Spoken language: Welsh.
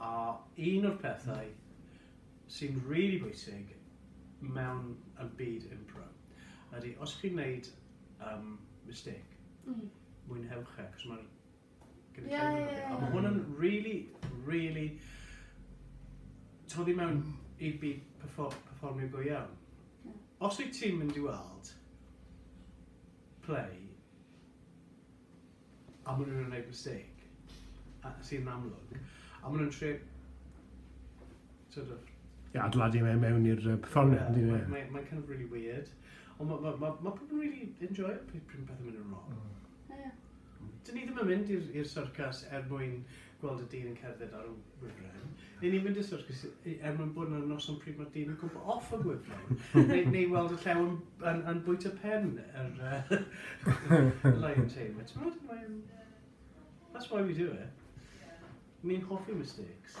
A un o'r pethau sy'n rili bwysig mewn y byd impro ydy os chi'n neud yym mistake mwynhewch e cos ma'r gynulleidfa'n lyfli. Ie ie ie. A ma' hwn yn rili rili toddi mewn i byd perffor- perfformio go iawn. Ie. Os wyt ti'n mynd i weld play A maen nhw'n wneud mistake, sydd yn amlwg, a maen nhw'n trio sort of... Ie, adeiladu fe mewn i'r perfformiad, yn dydyn nhw? Mae'n kind of really weird. Ond mae ma, ma, pobl yn really enjoy pryd pethau'n mynd yn wrong. Ie. Dyn ni ddim yn mynd i'r syrcas er mwyn gweld y dyn yn cerdded ar y wifren, neu ni'n mynd i'r syrcus er mwyn bod yna'r noson pryd mae'r dyn yn gwybod off y wifren, neu, neu weld y llew yn, yn, yn bwyta pen yr uh, lion tamer. Ti'n meddwl, mae'n... That's why we do it. Ni'n hoffi mistakes.